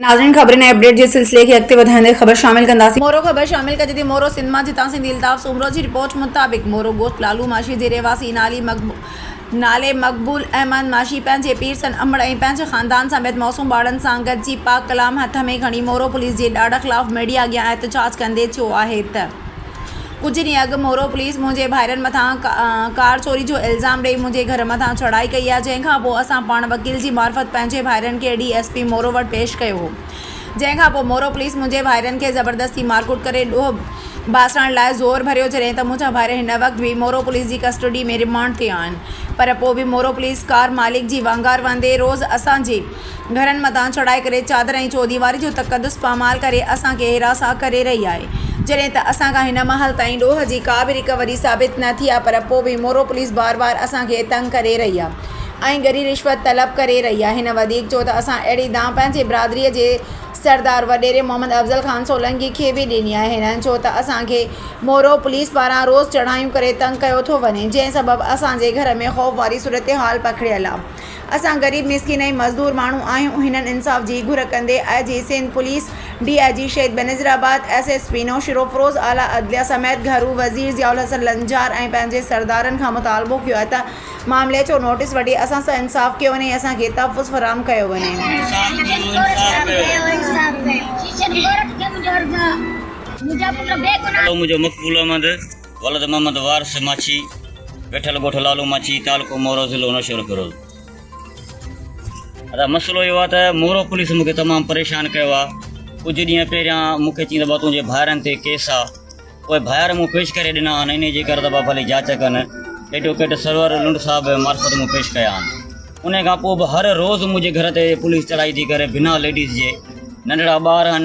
ناظرين خبرن ۽ اپڊيٽ جي سلسلي کي اڳتي وڌائيندي خبر شامل ڪنداسين. مورو خبر شامل ڪجي ٿي مورو سنڌ مان جتان سنڌي الطاف سومرو جي رپورٽ مطابق مورو گوٺ لالو ماشي جي رهواسي نالي مقبول نالي مقبول احمد ماشي پنهنجي پير سن امڙ ۽ پنهنجي خاندان سميت معصوم ٻارڙن سان گڏجي پاڪ ڪلام هٿ ۾ کڻي مورو پوليس جي ڏاڍ خلاف ميڊيا اڳيان احتجاج ڪندي چيو آهي ته ڪجهه ڏينهن اڳ مورو پوليس منهنجي ڀائرن مٿان ڪار چوري جو الزام ڏئي منهنجي گهر مٿان چڙهائي ڪئي آهي جنهن کان پوء اسان پاڻ وڪيل جي معرفت پنهنجي ڀائرن کي ڊي ايس پي مورو وٽ پيش ڪيو هو جنهن کان پوء مورو پوليس منهنجي ڀائرن کي زبردستي مارڪوٽ ڪري ڏوهه باسڻ لاء زور ڀريو جڏهن ته منهنجا ڀائر هن وقت به مورو پوليس جي ڪسٽوڊي ۾ رمانڊ تي آهن پر پوء به مورو پوليس ڪار مالڪ جي وانگار وهندي روز اسان جي گهرن مٿان چڙهائي ڪري چادر ۽ چوديواري جو تقدس پامال ڪري اسان کي هراسان ڪري رهي آهي جڏهن ته اسان کان هن مهل تائين ڏوهه جي ڪا به رڪوري ثابت نه ٿي آهي پر پوء به مورو پوليس بار بار اسان کي تنگ ڪري رهي آهي ۽ ڳري رشوت طلب ڪري رهي آهي هن وڌيڪ چيو ته اسان اهڙي دانهن پنهنجي برادري جي سردار وڏيري محمد افضل خان سولنگي کي به ڏني آهي هنن چيو ته اسان کي مورو پوليس پاران روز چڙهايون ڪري تنگ ڪيو ٿو وڃي جنهن سبب اسان جي گهر ۾ خوف واري صورتحال پکڙيل آهي اسان غريب مسڪين ۽ مزدور ماڻهو آهيون هنن انصاف جي گهر ڪندي I G Sindh police, D I G Shaheed Benazirabad, S S P Naushahro Feroze, اعليٰ عدليه سميت گهرو وزير ضياء الحسن لنجار ۽ پنهنجي سردارن کان مطالبو ڪيو آهي ته معاملي جو نوٽيس وٺي اسان سان انصاف ڪيو وڃي ۽ اسان کي تحفظ فراهم ڪيو وڃي. ولد محمد وارث ماڇي، ويٺل ڳوٺ لالو ماڇي، تعلقو مورو، ضلعو نوشهروفيروز. ادا مسئلو اهو آ ته مورو پوليس مون کي تمام پريشان ڪيو آ، ڪجهه ڏينهن پهريان مون کي چين ته بابا تنهنجي ڀائرن تي ڪيس آ، اهي ڀائر مون پيش ڪري ڏنا آهن، انهيء جي ڪر ته بابا ڀلي جاچ ڪن، ايڊوڪيٽ سرور لنڊ صاحب معرفت مون پيش ڪيا آهن، انهيء کان پوء به هر روز منهنجي گهر تي پوليس چڙهائي ٿي ڪري، بنا ليڊيز جي ننڍڙا ٻار آهن.